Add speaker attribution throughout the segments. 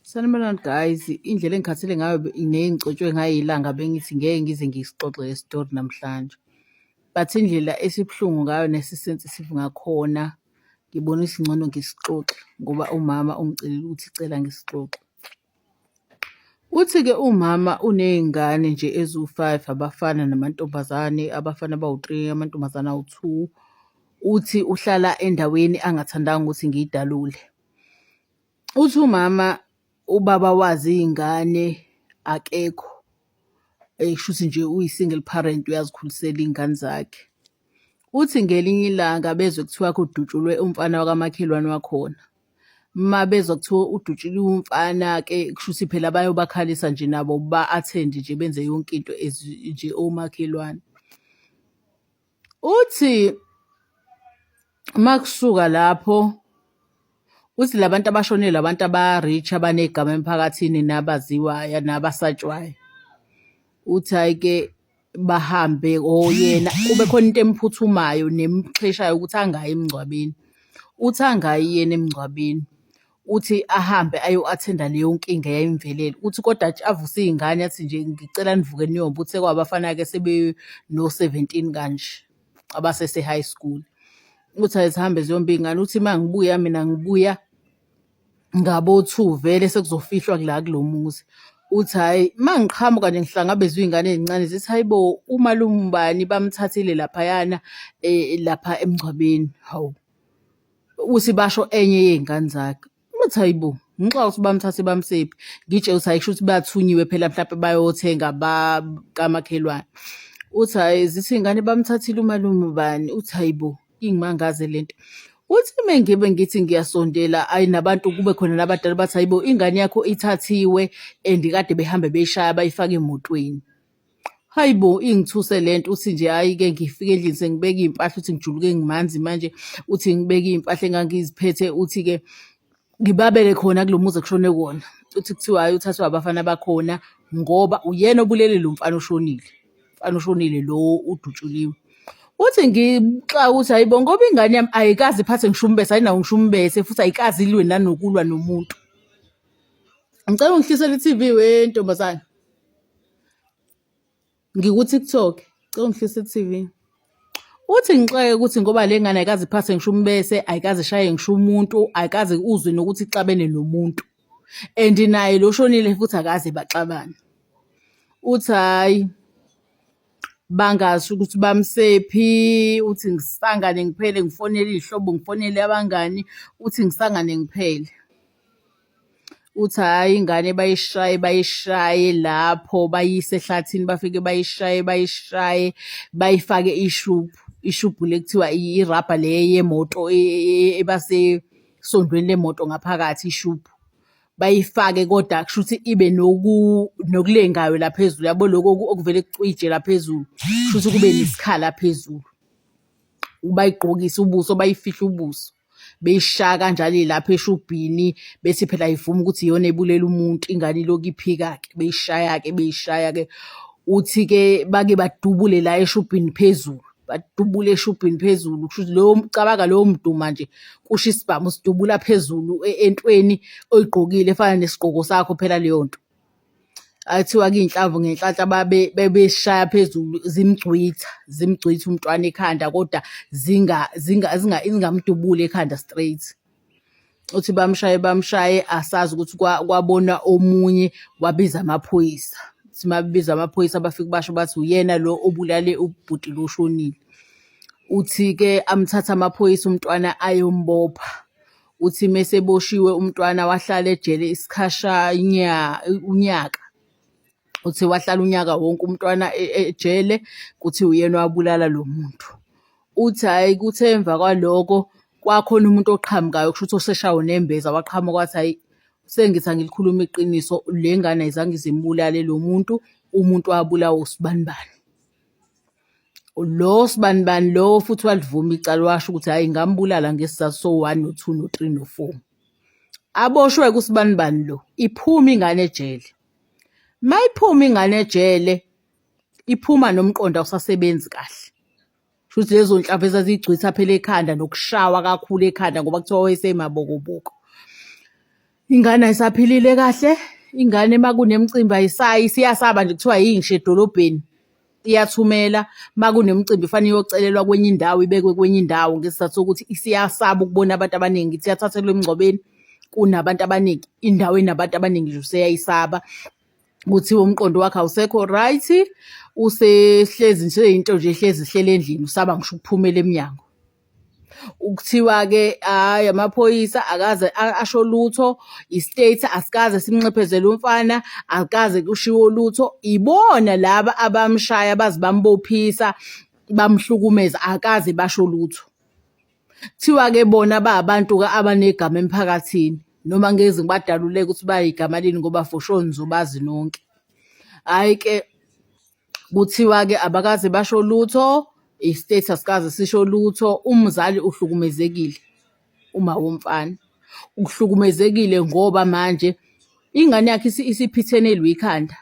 Speaker 1: Sanibonani guys, indlela engikhathele ngayo nengicotshwe ngayo ilanga bengithi ngeke ngize ngisixoxe le story namhlanje. But indlela esibuhlungu ngayo nesisensitive ngakhona ngibona ukuthi ngcono ngisixoxe ngoba umama ungicelile ukuthi cela ngisixoxe. Uthi-ke umama uney'ngane nje eziwu-five abafana namantombazane, abafana abawu-three, amantombazane awu-two. Uthi uhlala endaweni angathandanga ukuthi ngiyidalule. Uthi umama ubaba wazi iy'ngane akekho kushuthi nje uyi-single parent uyazikhulisela iy'ngane zakhe. Uthi ngelinye ilanga bezwe kuthiwa kudutshulwe umfana wakamakhelwane wakhona. Uma bezwa kuthiwa udutshuliwe umfana-ke kushuthi phela bayobakhalisa nje nabo ba-attend-e nje benze yonke into as nje omakhelwane. Uthi makusuka lapho uthi labantu abashonile abantu aba-rich abanegama emphakathini nabaziwayo nabasatshwayo uthi ayike bahambe oyena kube khona into emphuthumayo nemxheshayo ukuthi angayi emngcwabeni uthi angayi yena emngcwabeni. Uthi ahambe ayo-attend-a leyo nkinga eyayimvelele. Uthi kodwa atsh- avuse iy'ngane athi nje ngicela nivuke niyoba. Uthe kwabafana-ke sebeno-seventeen kanje abasese-high school. Uthi azihambe ziyoba iy'ngane. Uthi uma ngibuya mina ngibuya ngabo-two vele sekuzofihlwa kula kulo muzi. Uthi hhayi uma ngiqhamuka nje ngihlangabezwe iy'ngane ey'ncane zithi hhayi bo umalume ubani bamthathile laphayana um lapha emngcwabeni, hawu. uthi basho enye yey'ngane zakhe uthi hayi bo ngixa ukuthi bamthathe bamsephi ngitshe uthi hayi kusho ukuthi bathunyiwe phela mhlawumbe bayothenga bakamakhelwane uthi hayi zithi iy'ngane bamthathile umalume bani uthi hayi bo ingimangaze le nto uthi uma ngibe ngithi ngiyasondela ayi nabantu kube khona nabadala bathi hayi bo ingane yakho ithathiwe and kade behambe beyishaya bayifake emotweni Hayi bo ingithuse le nto uthi nje hhayi-ke ngifike endlini sengibeka iy'mpahla uthi ngijuluke ngimanzi manje uthi ngibeke iy'mpahla engangiziphethe uthi-ke ngibabeke khona kulo muzi ekushone kuwona uthi kuthiwa hhayi uthathwa abafana bakhona ngoba uyena obulele lo mfana oshonile mfana oshonile lo udutshuliwe uthi ngixaka ukuthi hayibo ngoba ingane yami ayikazi iphathe ngisho umbese ayinawo ngisho umbese futhi ayikazi ilwe nanokulwa nomuntu ngicela ungihlisele i-tv wentombazane ngikuTikTok cela ungihlise TV uthi ngixoke ukuthi ngoba le ngane ayikaze iphathe ngisho umbese ayikaze ishaye ngisho umuntu ayikaze uzwe nokuthi ixabene nomuntu and naye lo shonile futhi akaze baxabane uthi hhayi bangasho ukuthi bamsephi uthi ngisangane ngiphele ngifonele iy'hlobo ngifonele abangani uthi ngisangane ngiphele Uthi hhayi ingane bayishaye bayishaye lapho bayise ehlathini bafike bayishaye bayishaye bayifake ishubhu ishubhu le kuthiwa irabha le yemoto e, e, e, ebasesondweni lemoto ngaphakathi ishubhu bayifake kodwa kusho ukuthi ibe noku nokulengayo la phezulu yabo lokho okuvele kucije la phezulu kusho ukuthi kube nesikhala phezulu bayigqokise ubuso bayifihle ubuso. beyishaya kanjalo ilapha eshubhini bethi phela ayivumi ukuthi iyona ebulela umuntu ingane iloku iphika-ke beyishaya-ke beyishaya-ke uthi-ke bake badubule la eshubhini phezulu badubule eshubhini phezulu kusho ukuthi lowo cabanga lowo mduma nje kusho isibhamu sidubula phezulu e-, entweni oyigqokile efana nesigqoko sakho phela leyo nto Kuthiwa kuyinhlamvu ngenhlanhla bebeshaya phezulu zimgcwitha, zimgcwitha umntwana ekhanda koda zingamdubuli ekhanda straight. Uthi bamshaye bamshaye asazi ukuthi kwabona omunye wabiza amaphoyisa. Uthi uma bebiza amaphoyisa bafike basho bathi uyena lo obulale ubhuti lo oshonile. Uthi-ke amthathe amaphoyisa umntwana ayombopha. Uthi meseboshiwe umntwana wahlala ejele isikhasha unyaka uthi wahlala unyaka wonke umntwana e, e, ejele kuthi uyena wabulala lo muntu uthi hhayi kuthe emva kwaloko kwakhona umuntu oqhamukayo kusho ukuthi oseshawo nembeza waqhamuka wathi hhayi sengithi angilikhuluma iqiniso le ngane ayizange izimulale lo muntu umuntu wabulawa usibanibani Lo sibanibani lo futhi walivuma icala washo ukuthi hhayi ngambulala ngesizathu so-one no-two no-three no-four. Aboshwe-ke usibanibani lo, iphuma ingane ejele. Uma iphuma ingane ejele, iphuma nomqondo awusasebenzi kahle. Shuthi lezo nhlava ezazigcwisa phela ekhanda nokushawa kakhulu ekhanda ngoba kuthiwa wayesemabokoboko. Ingane ayisaphilile kahle, ingane uma kunemcimbi ayisayi isiyasaba nje kuthiwa yingisho edolobheni iyathumela uma kunemicimbi fanele iyocelelwa kwenye indawo ibekwe kwenye indawo ngesizathu sokuthi isiyasaba ukubona abantu abaningi ithi yathathelwa emngcwabeni kunabantu abaningi indawo enabantu abaningi nje useyayisaba. kuthiwa umqondo wakhe awusekho right usehlezi nje into nje ehlezi ihlele endlini usaba ngisho ukuphumela emnyango kuthiwa-ke hhayi amaphoyisa akaze asho lutho i-state asikaze simnxephezele umfana akaze kushiwo lutho ibona laba abamshaya baze bambophisa bamhlukumeza akaze basho lutho Kuthiwa-ke bona ba abantu-ke abanegama emphakathini noma ngezi ngibadaluleke ukuthi bayigama lini ngoba for sure nizobazi nonke. Hhayi-ke kuthiwa-ke abakaze basho lutho, i-state asikaze sisho lutho, umzali uhlukumezekile uma womfana. Uhlukumezekile ngoba manje ingane yakhe isiphithenelwe ikhanda.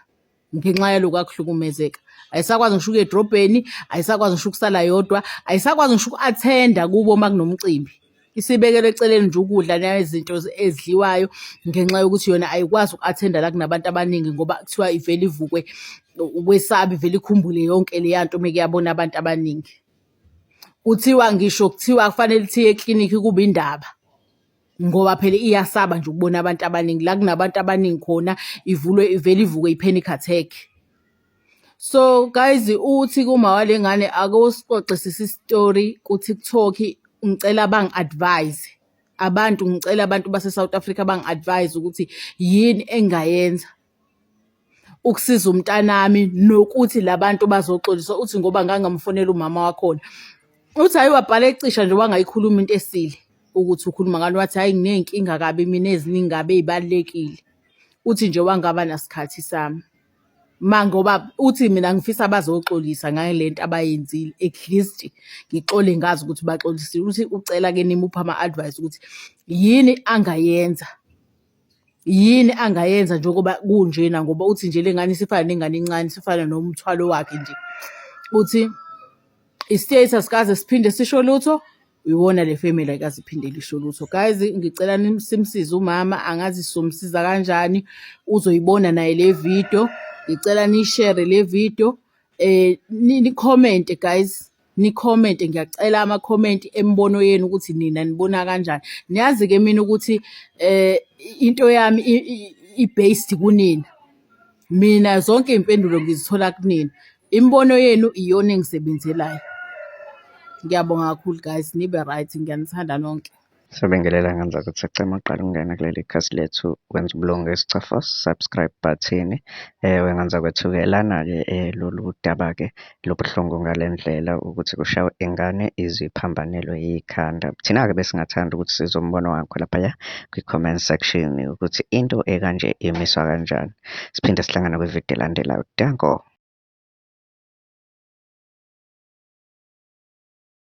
Speaker 1: ngenxa yaloku akuhlukumezeka ayisakwazi ngisho ukuya edrobheni ayisakwazi ngisho ukusala yodwa ayisakwazi ngisho uku-athenda kubo uma kunomcimbi isibekele eceleni nje ukudla nezinto ezidliwayo ngenxa yokuthi yona ayikwazi uku-athenda la kunabantu abaningi ngoba kuthiwa ivele ivukwe ukwesabi vele ikhumbule yonke leya nto uma kuyabona abantu abaningi kuthiwa ngisho kuthiwa kufanele thiye eklinikhi kuba indaba ngoba phela iyasaba nje ukubona abantu abaningi la kunabantu abaningi khona ivulwe ivele ivuke i-panic attack so guys uthi kuma wale ngane ake usixoxisise isitori kuTikTok ngicela bangi advise abantu ngicela abantu base South Africa bangi advise ukuthi yini engayenza ukusiza umntanami nokuthi la bantu bazoxolisa uthi ngoba ngangamfonela umama wakhona uthi hhayi wabhala ecisha nje wangayikhuluma into esile ukuthi ukhuluma ngani wathi hhayi nginey'nkinga kabi mina eziningi kabi ey'balulekile uthi nje wangaba nasikhathi sami ma ngoba uthi mina ngifisa bazoxolisa ngayo le nto abayenzile at least ngixole ngazi ukuthi baxolisile uthi ucela-ke nimuphe ama-advice ukuthi yini angayenza yini angayenza njengoba kunjena ngoba uthi nje le ngane isifana nengane encane sifana nomthwalo wakhe nje uthi i-state asikaze siphinde sisho lutho iwona le family ayikaze iphinde lisho lutho guys ngicela simsize umama angazi somsiza kanjani uzoyibona naye le video ngicela nishere le video eh ni-comment guys nikhomente ngiyacela amakhomenti emibono yenu ukuthi nina nibona kanjani niyazi-ke mina ukuthi um into yami i-based kunina mina zonke iy'mpendulo ngizithola kunina imibono yenu iyona engisebenzelayo ngiyabonga kakhulu guys nibe right ngiyanithanda nonke Sibingelela ngenza
Speaker 2: ukuthi sicema uqala ukungena kuleli khasi lethu wenza ubulunga isicafo subscribe button eh wenganza kwethuke lana ke eh, lolu daba ke lobuhlungu ngalendlela ukuthi kushawe ingane iziphambanelwe yikhanda thina ke besingathanda ukuthi sizombono wakho lapha ya kwi comment section ukuthi into ekanje imiswa kanjani siphinde sihlangana kwi video elandelayo danko